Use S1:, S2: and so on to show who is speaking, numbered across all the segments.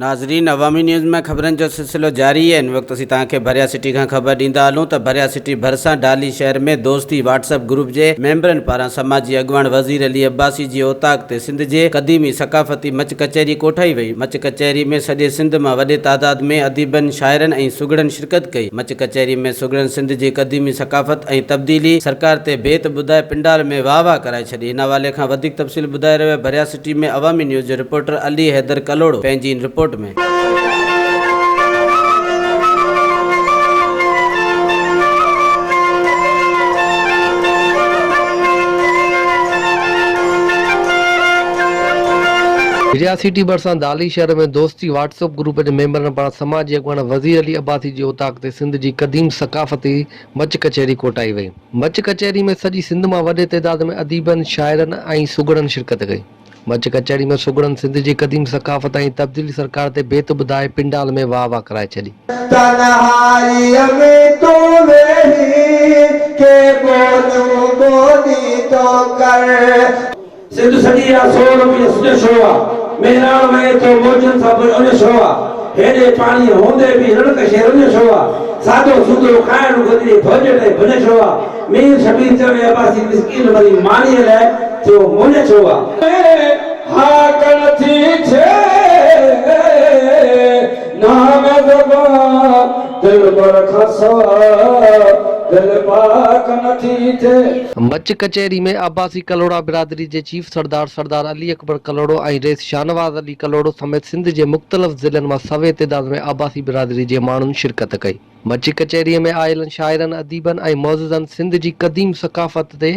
S1: ناظرين عوامي نيوز ۾ خبرن جو سلسلو جاري آهي ان وقت اسين توهان کي ڀريا سٽي کان خبر ڏيندا هلون ته ڀريا سٽي ڀرسان ڊالي شهر ۾ دوستي واٽس اپ گروپ جي ميمبرن پاران سماجي اڳواڻ وزير علي عباسي جي اوطاق تي سنڌ جي قديمي ثقافتي مچ ڪچهري ڪوٺائي وئي مچ ڪچهري ۾ سڄي سنڌ مان وڏي تعداد ۾ اديبن شاعرن ۽ سگهڙن شرڪت ڪئي. مچ ڪچهري ۾ سگهڙن سنڌ جي قديمي ثقافت ۽ تبديلي سرڪار تي بيت ٻڌائي پنڊال ۾ واهه واهه ڪرائي ڇڏي. ان حوالي کان وڌيڪ تفصيل ٻڌائي رهيو آهي ڀريا سٽي ۾ عوامي نيوز جو رپورٽر علي حيدر ڪلهوڙو پنهنجي ان رپورٽ ۾.
S2: ڀريا سٽي ڀرسان دالي شهر ۾ دوستي واٽس اپ گروپ جي ميمبرن پاران سماجي اڳواڻ وزير علي عباسي جي اوطاق تي سنڌ جي قديم ثقافتي مچ ڪچهري ڪوٽائي وئي. مچ ڪچهري ۾ سڄي سنڌ مان وڏي تعداد ۾ اديبن، شاعرن ۽ سگهڙن شرڪت ڪئي. مچ ڪچهري ۾ سگهڙن سنڌ جي قديم ثقافت ۽ تبديل سرڪار تي بيت ٻڌائي پنڊال ۾ واهه واهه ڪرائي ڇڏي. تنهائيء ۾ تون ويهي ڪي ٻوليون
S3: ٻولي ٿو ڪر. سنڌ سڄي آ سور ۾ سڄو شو آ. مهراڻ وهي ٿو موجن سان پڻ اڃو شو آ. هيڏي پاڻي هوندي به رڻڪ شهر اڃو شو آ. سادو سودو کائڻ گدڙي ڀوڄ ٽي ڀڃ شو آ. مير شبير چوي عباسي مسڪين مري مانيء لئه ٿيو مڃ شو آ. ڪنهن هاڪ نه ٿي ڇي نانگ زبان. دلبر کان
S2: سوا دل پاڪ نه ٿي ٿئي. مچ ڪچهري ۾ عباسي ڪلهوڙا برادري جي چيف سردار سردار علي اڪبر ڪلهوڙو ۽ رئيس شاهنواز علي ڪلهوڙو سميت سنڌ جي مختلف ضلعن مان سوين تعداد ۾ عباسي برادري جي ماڻهن شرڪت ڪئي. مچ ڪچهري ۾ آيلن شاعرن، اديبن ۽ معززن سنڌ جي قديم ثقافت تي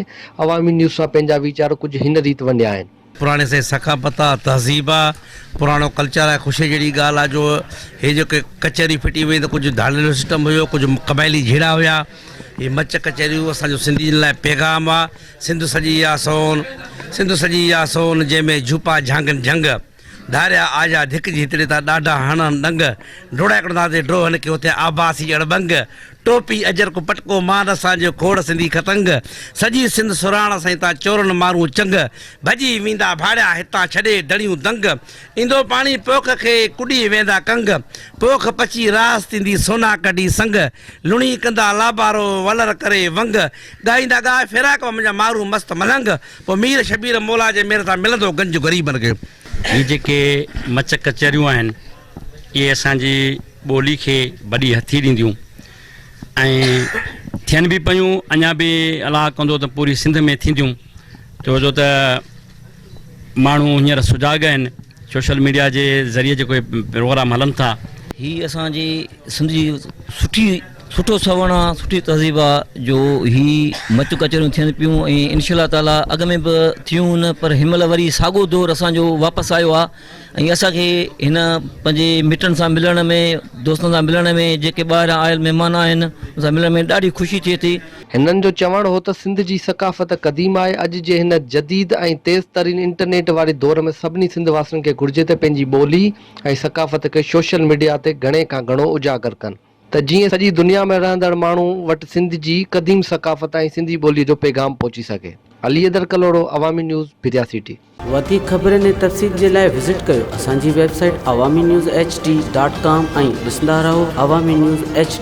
S2: عوامي نيوز سان پنهنجا ويچار ڪجهه هن ريت ونڊيا آهن. پراڻي سائين ثقافت
S4: آ تهذيب آ پراڻو ڪلچر آ خوشي جهڙي ڳالهه آ جو هي جيڪي ڪچهري ڦٽي وئي ته ڪجهه ڌاڙيلو سسٽم هيو ڪجهه قبائلي جهيڙا هيا هي مچ ڪچهريون اسان جو سنڌين لاء پيغام آ سنڌ سڄي آ سون سنڌ سڄي آ سون جنهن ۾ جهوپا جهانگن جهنگ ڌاريا آجا ڌڪ جي هتڙي تا ڏاڍا هڻن ڏنگ ڊوڙا هڪڙو نا تي ڊوهن کي هتي آباسي اڙ ٻنگ ٽوپي اجرڪ پٽڪو مان رسان جو کوڙ سنڌي ختنگ سڄي سنڌ سراڻ سائين تان چورن مارون چنگ ڀڄي ويندا ڀاڙيا هتان ڇڏي دڙيون دنگ ايندو پاڻي پوک کي ڪڏي ويندا ڪنگ پوک پچي راس ٿيندي سونا ڪڍي سنگ لڻي ڪندا لابارو ولر ڪري ونگ ڳائيندا ڳاء فراق مان منهنجا مارون مست ملنگ پوء مير شبير مولا جي مهر سان ملندو گنج غريبن کي. هي جيڪي
S5: مچ ڪچهريون آهن اهي اسان جي ٻولي کي وڏي هٿي ڏينديون ۽ ٿين به پيون اڃا به الاهه ڪندو ته پوري سنڌ ۾ ٿينديون ڇو جو ته ماڻهو هينئر سجاڳ آهن سوشل ميڊيا جي ذريعي جيڪو پروگرام هلن ٿا هي اسان جي
S6: سنڌ جي سٺي سٺو سوڻ آ سٺي تهذيب آ جو هي مچ ڪچهريون ٿين پيون ۽ انشاء الله تعالٰي اڳ ۾ به ٿيون هن پر هن مهل وري ساڳو دور اسان جو واپس آيو آ ۽ اسان کي هن پنهنجي مٽن سان ملڻ ۾ دوستن سان ملڻ ۾ جيڪي ٻاهران آيل مهمان آهن ان سان ملڻ ۾ ڏاڍي خوشي ٿئي ٿي. هنن جو چوڻ
S2: هو ته سنڌ جي ثقافت قديم آهي، اڄ جي هن جديد ۽ تيز ترين انٽرنيٽ واري دور ۾ سڀني سنڌ واسين کي گهرجي ته پنهنجي ٻولي ۽ ثقافت کي سوشل ميڊيا تي گهڻي کان گهڻو اجاگر ڪن. ته جيئن سڄي دنيا ۾ رهندڙ ماڻهو وٽ سنڌ جي قديم ثقافت ۽ سنڌي ٻوليء جو پيغام پهچي سگهي. علي حيدر ڪلهوڙو، عوامي نيوز، پھريا سي ٽي. وڌيڪ خبرن
S1: ۽ تفصيل جي لاء وزٽ ڪيو اسان جي website Awami News H D dot com ۽ ڏسندا رهو عوامي نيوز ايڇ ڊي.